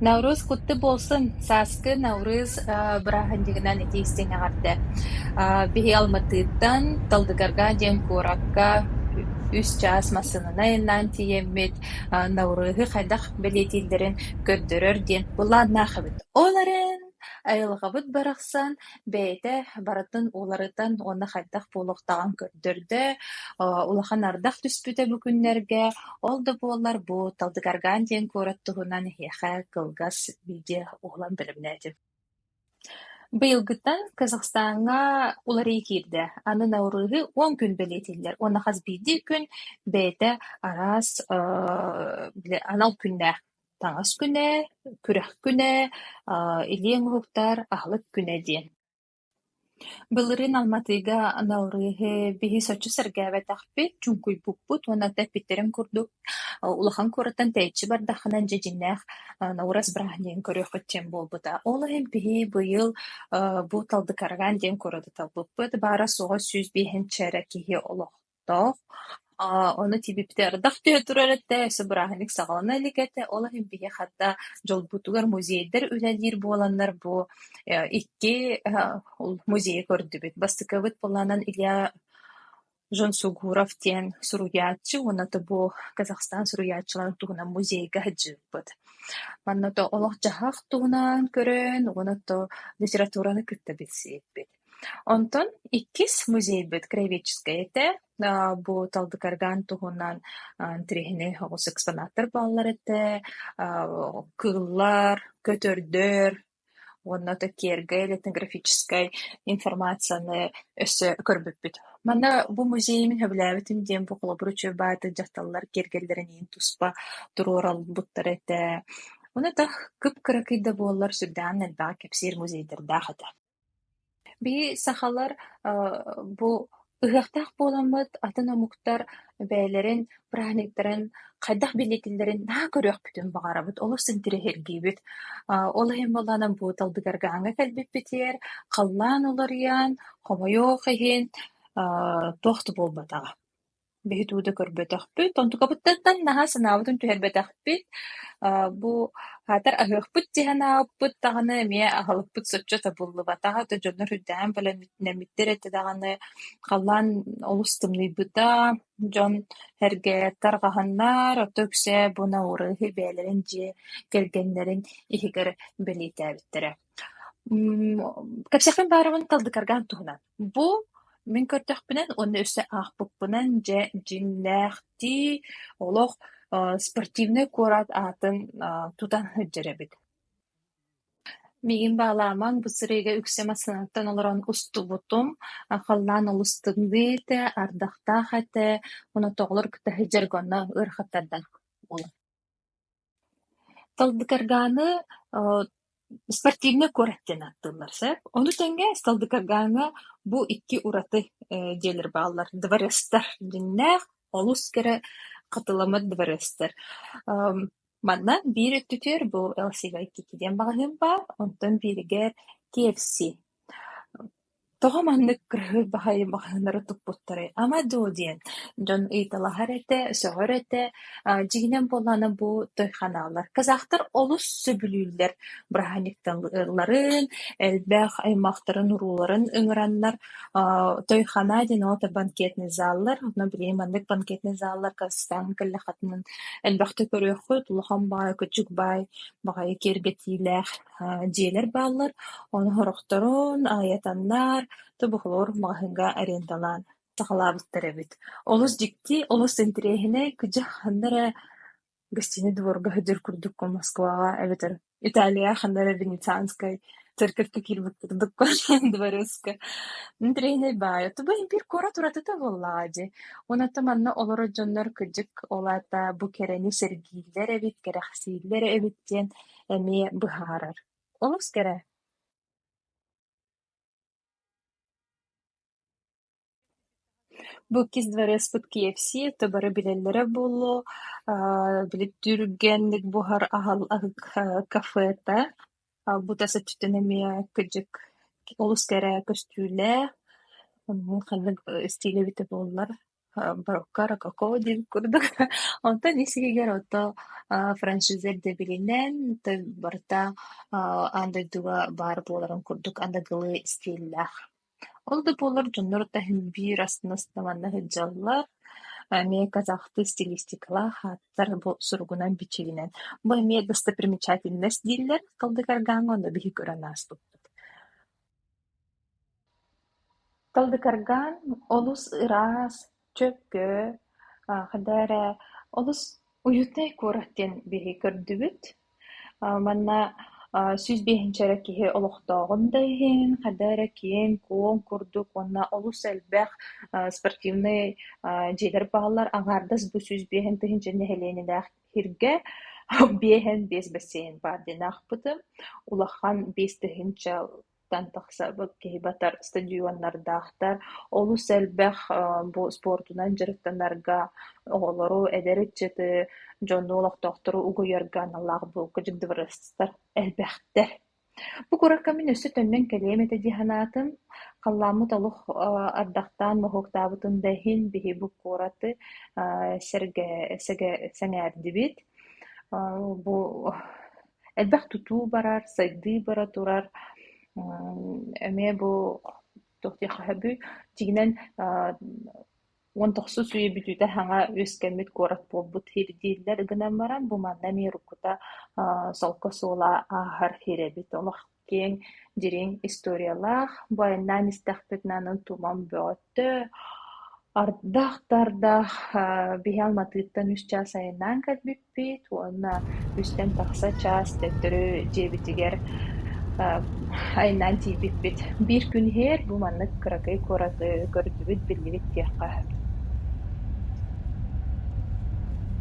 Навруз куттук буолсун, сааскы Навруз бырааһынньыгынан ити истиҥ эҕэрдэ биһиги Алматыттан Талдыгарга диэн куоракка үс чаас массыынанай айаннаан тиийэммит Навруһу хайдах бэлиэтииллэрин көрдөрөр диэн былааннаах эбит. Ол эрэн, айылҕабыт барахсан бэйэтэ барытын уларытан уонна хайдах буолуохтааҕын көрдөрдө, улахан ардах түспүтэ бу күннэргэ. Ол да буоллар бу Талдыкаргаан диэн куорат туһунан эһиэхэ кылгас видео уһулан бэлэмнээтим. Быйылгыттан Казахстаҥҥа уларыы киирдэ. Аны Наурызы он күн бэлиэтииллэр уонна хас биирдии күн бэйэтэ араас анал күннээх таҥас күнэ, күрэх күнэ, аа илиэҥ уһуктар аһылык күнэ диэн. Былырыын Алматыга Наурыһы биһис оччо сэргээбэтэхпит, чуҥкуйбуппут уонна эппиттэрин курдук улахан куораттан тэйиччи бардаххына дьэдьиннээх Наурас бырааһынньыгын көрүөххүт диэн буолбута. Ол иһин биһи быйыл аа бу Талдыкарагаан диэн куораты талбыппыт. Баара суоҕа сүүс биэһинчэ эрэ киһи олох Тоох, аа ону тибиппитэ ардах түһэ турар этэ, өссө бырааһынньык саҕалана илик этэ, ол иһин биһи хата дьолбутугар музейдар үлэлиир буоланнар бу э икки э музейы көрдүбүт. Бастакыбыт буолаанан Илья Жансугуров диэн суруйааччы уонна то бу Казахстан суруйааччыларын туһунан музейга сылдьыбыт. Манна то олох-дьаһах туһунан көрөн уонна то литератураны кытта билсиһиппит. Онтон иккис музейбыт краеведческай этэ, бу талбыкаргаан туһунан тириһинэй оҕус экспонаттар бааллар этэ, кыыллар, көтөрдөр уонна ото киэргэй этнографическай информацияны өссө көрбүппүт. Манна бу музеймын сөбүлээбитим диэн бу холобур үчүгэй баайда дьахталлар киэргэллэрин иһин туспа туруоралбыттара этэ. Ону ата кып-кыракый да буоллар сүрдээх элбэҕи кэпсиир музейдардаах этэ. Бии сахалар бу ыһыахтаах буоламмыт атын омуктар бэйэлэрин праздниктарын хайдах бэлиэтииллэрин наһаа көрүөхпүтүн баҕарабыт, олус интириэһиргиибит. Ол иһин буоллаҕына бу талбыгаргааҥҥа кэлбиппитигэр халлаан уларыйан, хомойуох иһин, туох да буолбатаҕа. бэһит уу да көрбөтөхпүт, онтукабыттан наһаа санаабытын түһэрбэтэхпит, аа бу аатар аһыахпыт дии санаабыппыт даҕаны эмиэ аһылыкпыт соччо табыллыбатаҕа, то дьоннор үрдээн бэлэмнэммиттэр этэ даҕаны, халлаан олус тымныйбыта, дьон эргэ тарҕаһаннар, ото үксэ бу наурыһы бэйэлэрин дьиэ кэргэннэрин иһигэр бэлиэтээбиттэрэ. Кэпсэхпин баарыбын талдыкаргаан туһунан. Бу мин көрдөхпүнэн уонна өссө аахпыппынан дьэ дьиҥнээхтии олох э спортивнай куорат аатын э тутан сылдьар эбит. Миигин баалаамаҥ бу сырыыга үксэ массыынаттан олорон устубутум. А халлаан олус тымныы этэ, ардахтаах этэ. Онотоҕолор кытта сылдьарга онно ыарахаттардан буолар. Талдыкаргааны э спортивнай куорат диэн ааттыыллар, сөп? Ону тэҥэ Талдыкаргааҥҥа бу икки ураты э дьиэлэр бааллар: дворецтар дьиҥнээх, олус кэрэ хатыламмыт дворецтар. Эм манна биир өттүтүгэр бу ЛСВ икки диэн маҕаһыын баар, онтон бииригэр КФС. Тоҕо маннык кыһыл баһайы маҕаһыыннары туппуттарай ама дуу диэн дьон ыйыталаһар этэ, сөҕөр этэ. Аа дьиҥинэн буоллаҕына бу той ханааллар. Казахтар олус сөбүлүүллэр бырааһынньыкталарын, элбэх аймахтарын урууларын ыҥыраннар аа той ханаа диэн ол банкетный зааллар. Онно билигин маннык банкетный зааллар Казахстаҥҥа кэллэххитинэ элбэхтик көрүөххүт. Улахан баай, кучук баай, баҕайы киэргэтиилээх. дьиэлэр бааллар, ону сорохторун айатаннар, тобуһулуур маҕаһыыҥҥа арендалаан саҕалаабыттар эбит. Олус дьикти, олус интэриэһинэй, күдьэх ханна эрэ гостиная дворга сылдьар курдук Москваҕа эбэтэр Италияҕа ханна эрэ Венецианскай церковька киирбит курдук дворецка интэриэһинэй баайа тугу имбир куорат уратыта буоллаҕа дии онон манна олорор дьоннор кырдьык ол аата бу кэрэни сэргииллэр эбит кэрэхсииллэр эбит диэн эмиэ быһаарар. Олус кэрэ Бу иккис дворецпыт KFC это бары билэллэрэ буолуо, аа били түргэнник буһар аһал аһык аа кафе этэ. Бута соччотун эмиэ кыдьык олус кэрэ көстүүлээх, ханнык стилэ эбитэ буоллар Броккаро каково диир курдук онтон ис-иһигэр ото а, франшиза ирдэбилинэн то барыта а, аан дойдуга баар буоларын курдук аныгылыы стиллээх. Ол да буоллар дьоннор таһын биир астына-астына сылдьаллар. Эмиэ казахты стилистикалаах ааттар бу суругунан бичигинэн бу эмиэ достопримечательность дииллэр кылдык аргааҥҥа онно биһи көрөн ааспыппыт. Кылдыкаргаан олус ыраас, чөккө, хайда эрэ олус уютнай куорат диэн биһи көрдүбүт. Манна сүүс биэһинчэ эрэ киһи олохтооҕун да иһин, хайда эрэ киэҥ-куоҥ курдук уонна олус элбэх спортивнай дьиэлэр бааллар. Аҥаардас бу сүүс биэһин тыһыынча нэһилиэнньэлээх иһиргэ биэһин биэс бассейн баар диэн аахпытым. Улахан биэс тыһыынча Оттон тахсарбыт киһи батар стадионнардаахтар, олус элбэх бу спортунан дьарыктанарга оҕолору, эдэр ыччаты, дьону, олохтоохтору угуйарга аналлаах бу кыдьыктыбырастар элбэхтэр. Бу куоракка мин өссө төннөн кэлиэм этэ дии санаатым. Халлааммыт олох ардахтаан моһуоктаабытын да иһин, биһи бу куораты сэргэ сэгэ сэҥээрдибит. Бу Элбэх тутуу барар, сайдыы бара турар, эмиэ бу туох диэххэ сөбүй, дьиҥинэн уон тохсус үйэ бүтүүтэ саҥа үөскэммит куорат буолбут сир дииллэр гынан баран, бу манна эмиэ уруккута солко суола ааһар сир эбит. Олох киэҥ, дириҥ историялаах бу айаннаан истэхпитинэ аны туман бөҕөттөө ардах да ардах биһи Алматыттан үс чаас айаннаан кэлбиппит уонна үстэн тахса чаас төттөрү дьиэбитигэр айаннаан тиийбиппит. Биир күн иһигэр бу маннык кыракый кураты көрдүбүт, биллибит диэххэ.